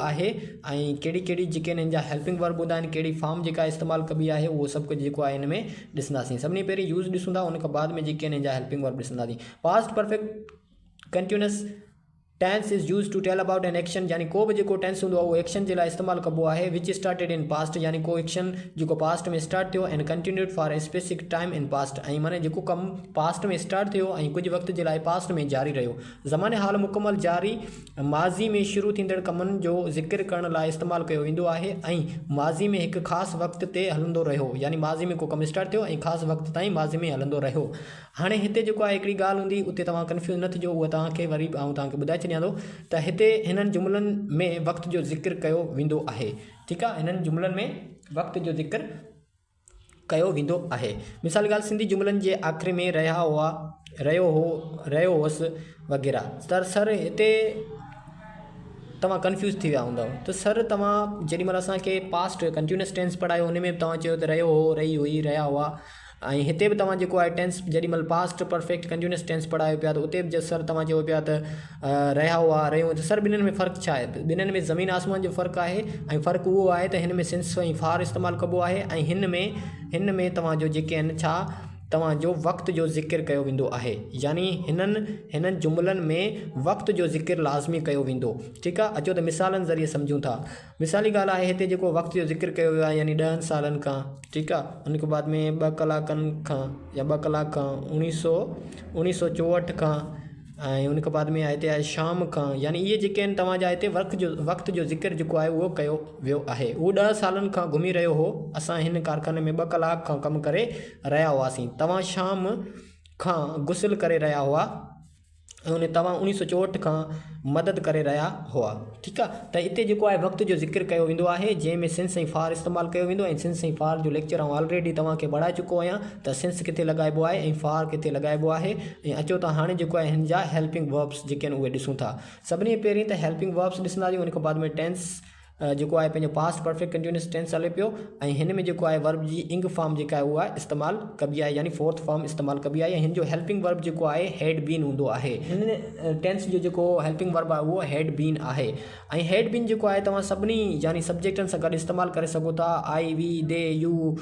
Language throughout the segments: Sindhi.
آهي ۽ ڪهڙي ڪهڙي جيڪي هنن جا هيلپنگ ورب هوندا آهن ڪهڙي فارم جيڪا استعمال ڪبي آهي اهو سڀ ڪجهه جيڪو آهي هن ۾ ڏسنداسين سڀني پهرين يوز ڏسون ٿا ان کان بعد ۾ جيڪي هنن جا هيلپنگ ورب ڏسنداسين past perfect continuous tense is use to tell about an action يعني ڪو به جيڪو ٽينس هوندو آهي اهو ايڪشن جي لاء استعمال ڪبو آهي وچ اسٽارٽيڊ ان پاسٽ يعني ڪو ايڪشن جيڪو پاسٽ ۾ اسٽارٽ ٿيو and continued for a specific time in past ۽ معنيٰ جيڪو ڪم پاسٽ ۾ اسٽارٽ ٿيو ۽ ڪجهه وقت جي لاء پاسٽ ۾ جاري رهيو زمان حال مڪمل جاري ماضي ۾ شروع ٿيندڙ ڪمن جو ذڪر ڪرڻ لاء استعمال ڪيو ويندو آهي ۽ ماضي ۾ هڪ خاص وقت تي هلندو رهيو يعني ماضي ۾ ڪو ڪم اسٽارٽ ٿيو ۽ خاص وقت تائين ماضي ۾ هلندو رهيو هاڻي هتي جيڪو آهي هڪڙي ڳالهه هوندي اتي توهان ڪنفيوز نه ٿجو اهو توهان کي وري به آئون توهان کي ٻڌائي ڇڏيان ٿو ته هتي هنن جملن ۾ وقت جو ذڪر ڪيو ويندو آهي ٺيڪ آهي هنن جملن ۾ وقت جو ذڪر ڪيو ويندو آهي. مثال ڳالهه سنڌي جملن جي آخر ۾ رهيا هئا، رهيو هو، رهيو هوس وغيره. سر، سر هتي توهان ڪنفيوز ٿي ويا هوندؤ ته سر توهان جيڏي مهل اسان کي پاسٽ ڪنٽينيوس ٽينس پڙهايو ان ۾ به توهان چيو ته رهيو هو، رهي هئي، رهيا هئا ۽ هتي به توهان جيڪو آهي ٽينس جيڏي مهل پاسٽ پرفيڪٽ ڪنٽينيوس ٽينس پڙهايو پيا ته اتي به سر توهان چئو پيا ته رهيا هئا، رهيون ته سر ٻنهن ۾ فرق ڇا آهي؟ ٻنهن ۾ زمين آسمان جو فرق آهي ۽ فرق اهو آهي ته هن ۾ سنس ۽ فار استعمال ڪبو آهي ۽ هن ۾ هن ۾ توهان جو جيڪي آهن ڇا توهان جو وقت جو ذڪر ڪيو ويندو آهي يعني هنن هنن جملن ۾ وقت جو ذڪر لازمي ڪيو ويندو ٺيڪ آهي اچو ته مثالن ذريعي سمجهون ٿا مثالي ڳالهه آهي هتي جيڪو وقت جو ذڪر ڪيو ويو آهي يعني ڏهن سالن کان ٺيڪ آهي ان کان بعد ۾ ٻه ڪلاڪن کان يا ٻه ڪلاڪ کان اوڻيهه سو اوڻيهه سو چوهٺ کان ۽ ان کان بعد ۾ آيت آهي شام کان يعني اهي جيڪي آهن توهان جا هتي ورق جو وقت جو ذڪر جيڪو آهي اهو ڪيو ويو آهي اهو ڏهه سالن کان گهمي رهيو هو اسان هن ڪارخاني ۾ ٻه ڪلاڪ کان ڪم ڪري رهيا هئاسين توهان شام کان غسل ڪري رهيا هئا ۽ توهان انهي سو چوهٺ کان مدد ڪري رهيا هئا ٺيڪ آ ته اتي جيڪو آهي وقت جو ذڪر ڪيو ويندو آهي جنهن ۾ سنس ۽ فار استعمال ڪيو ويندو ۽ سنس ۽ فار جو ليڪچر آئون آلريڊي توهان کي ٻاڙائي چڪو آهيان ته سنس ڪٿي لڳائبو آهي ۽ فار ڪٿي لڳائبو آهي ۽ اچو ته هاڻي جيڪو آهي هن جا هيلپنگ وربس جيڪي آهن اهي ڏسون ٿا سڀني پهرين ته هيلپنگ وربس ڏسنداسين ان کان بعد ۾ ٽينس جيڪو آهي پنهنجو پاسٽ پرفيڪٽ ڪنٽينيوس ٽينس هلي پيو ۽ هن ۾ جيڪو آهي ورب جي انگ فارم جيڪا آهي اها استعمال ڪبي آهي يعني فورٿ فارم استعمال ڪبي آهي ۽ هن جو هيلپنگ ورب جيڪو آهي هيڊ بين هوندو آهي ٽينس جو جيڪو هيلپنگ ورب آهي اهو هيڊ بين آهي ۽ هيڊ بين جيڪو آهي توهان سڀني يعني سبجيڪٽن سان گڏ استعمال ڪري سگهو ٿا I we they you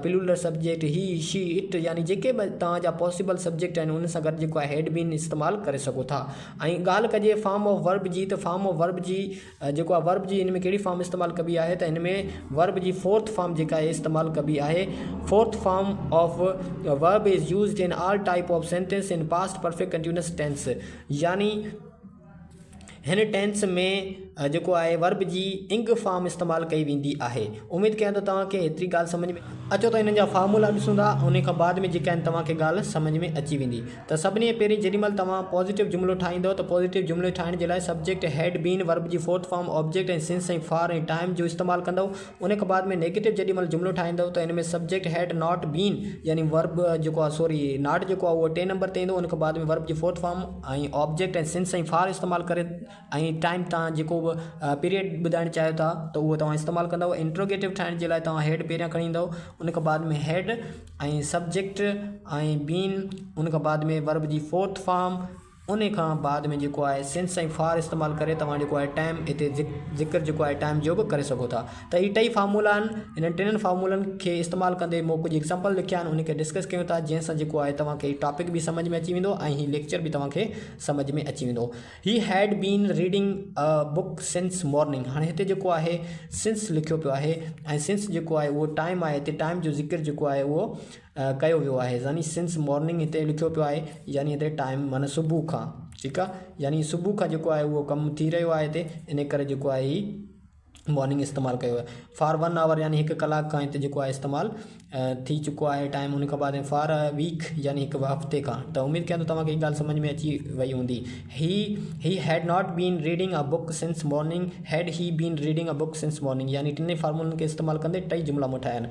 plural subject he she it يعني جيڪي به توهان جا پاسبل سبجيڪٽ آهن ان سان گڏ جيڪو آهي هيڊ بين استعمال ڪري سگهو ٿا ۽ ڳالهه ڪجي فارم آف ورب جي ته فارم آف ورب جي جيڪو آهي ورب جي هن ۾ ڪهڙي فارم استعمال ڪبي آهي ته هن ۾ ورب جي فورٿ فارم جيڪا آهي استعمال ڪبي آهي fourth form of verb is used in all type of sentence in past perfect continuous tense يعني هن ٽينس ۾ جيڪو آهي ورب جي انگ فارم استعمال ڪئي ويندي آهي اميد ڪيان ٿو توهان کي هيتري ڳالهه سمجھ ۾ اچو ته هنن جا فارمولا ڏسون ٿا ان کان بعد ۾ جيڪا آهن توهان کي ڳالهه سمجھ ۾ اچي ويندي ته سڀني پهرين جيڏي مهل توهان پازيٽو جملو ٺاهيندؤ ته پازيٽو جملي ٺاهڻ جي لاء سبجيڪٽ، هيڊ، بين، ورب جي fourth form, object ۽ since ۽ for ۽ time جو استعمال ڪندؤ. ان کان بعد ۾ نيگيٽو جيڏي مهل جملو ٺاهيندؤ ته ان ۾ سبجيڪٽ، هيڊ، ناٽ، بين يعني ورب جيڪو آهي سوري ناٽ جيڪو آهي اهو ٽئين نمبر تي ايندو ان کان بعد ۾ ورب جي fourth form ۽ object ۽ since ۽ for استعمال ڪري ۽ ٽائيم توهان جيڪو به پيريڊ ٻڌائڻ چاهيو ٿا ته اهو توهان استعمال ڪندؤ. انٽروگيٽو ٺاهڻ جي لاء توهان هيڊ پهريان کڻي ايندؤ ان کان بعد ۾ هيڊ ۽ سبجيڪٽ ۽ بين ان کان بعد ۾ ورب جي فورٿ فارم ان کان بعد ۾ جيڪو آهي سنس ۽ فار استعمال ڪري توهان جيڪو آهي ٽائم اتي ذڪر جيڪو آهي ٽائم جو به ڪري سگهو ٿا ته هي ٽئي فارمولا آهن انهن ٽنن فارمولن کي استعمال ڪندي مون ڪجهه ايگزامپل لکيا آهن انهن کي ڊسڪس ڪيون ٿا جنهن سان جيڪو آهي توهان کي ٽاپڪ به سمجهه ۾ اچي ويندو ۽ هي ليڪچر به توهان کي سمجهه ۾ اچي ويندو He had been reading a book since morning هاڻي هتي جيڪو آهي since لکيو پيو آهي ۽ since جيڪو آهي اهو ٽائيم آهي هتي ٽائيم جو ذڪر جيڪو آهي اهو ڪيو ويو آهي يعني since morning هتي لکيو پيو آهي يعني هتي ٽائيم معنيٰ صبح کان ٺيڪ آهي يعني صبح کان جيڪو آهي اهو ڪم ٿي رهيو آهي هتي انهي ڪري جيڪو آهي هي وارننگ استعمال ڪيو آهي فار ون آور يعني هڪ ڪلاڪ کان هت جيڪو آهي استعمال ٿي چڪو آهي ٽائيم ان کان بعد فار ا ويڪ يعني هڪ هفتي کان ته اميد ڪيان ٿو توهان کي هي ڳالهه سمجھ ۾ اچي وئي هوندي he he had not been reading a book since morning had he been reading a book since morning يعني ٽنهي فارمولن کي استعمال ڪندي ٽئي جملا مون ٺاهيا آهن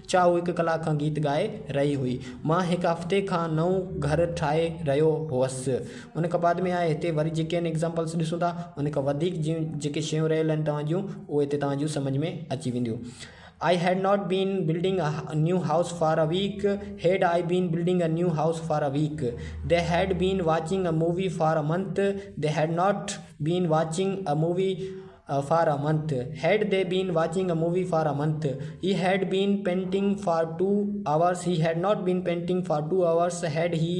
ڇا هو هڪ ڪلاڪ کان گيت ڳائي رهي هئي؟ مان هڪ هفتي کان نئون گهر ٺاهي رهيو هئس. ان کان بعد ۾ آء هتي وري جيڪي آهن ايگزامپلس ڏسون ٿا. ان کان وڌيڪ جون جيڪي شيون رهيل آهن توهان جون اهي هتي توهان جون سمجهه ۾ اچي وينديون. I had not been building a new house for a week had I been building a new house for a week they had been watching a movie for a month they had not been watching a movie for a month, had they been watching a movie for a month, he had been painting for two hours, he had not been painting for two hours, had he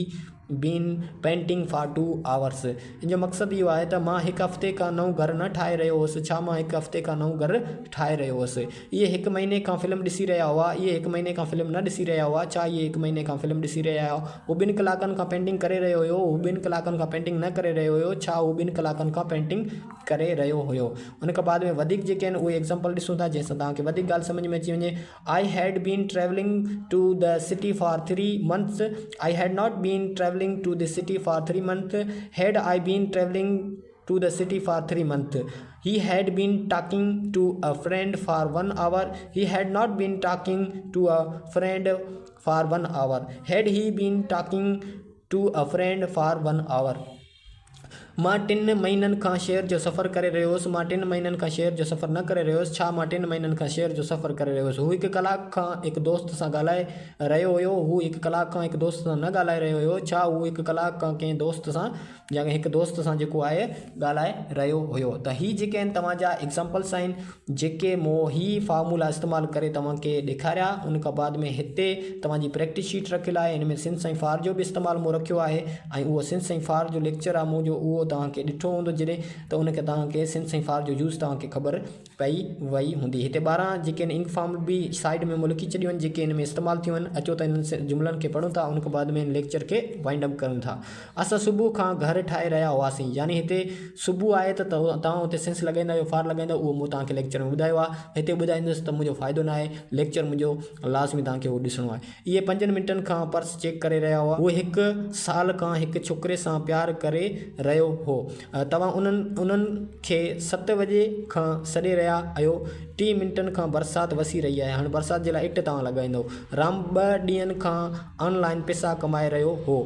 been painting for two hours. ان جو مقصد اهو آهي ته مان هڪ هفتي کان نئون گهر نه ٺاهي رهيو هوس، ڇا مان هڪ هفتي کان نئون گهر ٺاهي رهيو هوس. اهي هڪ مهيني کان فلم ڏسي رهيا هئا، اهي هڪ مهيني کان فلم نه ڏسي رهيا هئا، ڇا اهي هڪ مهيني کان فلم ڏسي رهيا هئا. هو ٻن ڪلاڪن کان پينٽنگ ڪري رهيو هيو، هو ٻن ڪلاڪن کان پينٽنگ نه ڪري رهيو هيو، ڇا هو ٻن ڪلاڪن کان پينٽنگ. ڪري رهيو هيو ان کان بعد ۾ وڌيڪ جيڪي آهن اهي ايگزامپل ڏسون ٿا جنهن سان توهان کي وڌيڪ ڳالهه سمجهه ۾ اچي وڃي I had been travelling to the city for three months I had not been travelling to the city for three month had I been travelling to the city for three month he had been talking to a friend for one hour he had not been talking to a friend for one hour had he been talking to a friend for one hour مان ٽن مهينن کان شهر جو سفر ڪري رهيو هوس. مان ٽن مهينن کان شهر جو سفر نه ڪري رهيو هوس. ڇا مان ٽن مهينن کان شهر جو سفر ڪري رهيو هوس. هو هڪ ڪلاڪ کان هڪ دوست سان ڳالهائي رهيو هيو. هو هڪ ڪلاڪ کان هڪ دوست سان نه ڳالهائي رهيو هيو. ڇا هو هڪ ڪلاڪ کان ڪنهن دوست سان يا هڪ دوست سان جيڪو آهي ڳالهائي رهيو هيو. ته هي جيڪي آهن توهان جا ايگزامپلس آهن. جيڪي مون هي فارمولا استعمال ڪري توهان کي ڏيکاريا ان کان بعد ۾ هتي توهان جي پريڪٽس شيٽ رکيل آهي ان ۾ سنڌ سائين فار جو به استعمال مون رکيو آهي ۽ اهو سنڌ سائين فار جو ليڪچر آهي مون جو اهو توهان کي ڏٺو هوندو جڏهن ته ان کي توهان کي سنڌ سائين فار جو يوز توهان کي خبر پئي وئي هوندي هتي ٻارهن جيڪي ان انڪ فارم به سائيڊ ۾ مون لکي ڇڏيون آهن جيڪي ان ۾ استعمال ٿيون آهن اچو ته انهن جملن کي پڙهون ٿا ان کان بعد ۾ ان ليڪچر کي وائنڊ اپ ڪريون ٿا اسان صبح کان گهر ٺاهي رهيا هئاسين يعني هتي صبح آهي ته توهان اتي سنس لڳائيندا يا فار لڳائيندا اهو مون توهان کي ليڪچر ۾ ٻڌايو آهي هتي ٻڌائيندس ته منهنجو فائدو نه آهي ليڪچر منهنجو لازمي توهان کي اهو ڏسڻو آهي اهي پنجن منٽن کان پرس چيڪ ڪري رهيا هئا هو هڪ سال کان هڪ ڇوڪري سان پيار ڪري رهيو هو توهان انهن انهن کي ست وڄي کان سڏي رهيا آهيو ٽي منٽن کان برسات وسي رهي آهي هاڻي برسات جي لاء اٽ توهان لڳائيندو رام ٻه ڏينهن کان آن لائين پيسا ڪمائي رهيو هو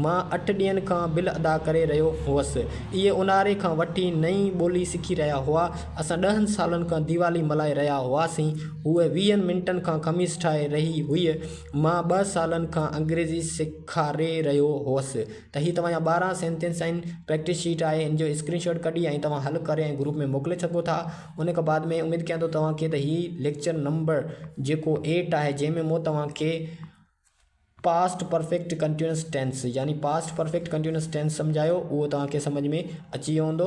مان اٺ ڏينهن کان بل ادا ڪري رهيو هوس. اهي اونهاري کان وٺي نئين ٻولي سکي رهيا هئا. اسان ڏهن سالن کان ديوالي ملهائي رهيا هئاسين. هوء ويهن منٽن کان خميس ٺاهي رهي هئي. مان ٻه سالن کان انگريزي سيکاري رهيو هوس. ته هي توهان جا ٻارهن سينٽينس آهن. پريڪٽس شيٽ آهي. هن جو اسڪرين شاٽ ڪڍي ۽ توهان حل ڪري ۽ گروپ ۾ موڪلي سگهو ٿا. ان کان بعد ۾ اميد ڪيان ٿو توهان کي ته هي ليڪچر نمبر جيڪو ايٽ آهي جنهن ۾ مون توهان کي. پاسٽ پرفيڪٽ ڪنٽينيوس ٽينس يعني پاسٽ پرفيڪٽ ڪنٽينيوس ٽينس سمجهايو اهو توهان کي سمجهه ۾ اچي ويو هوندو.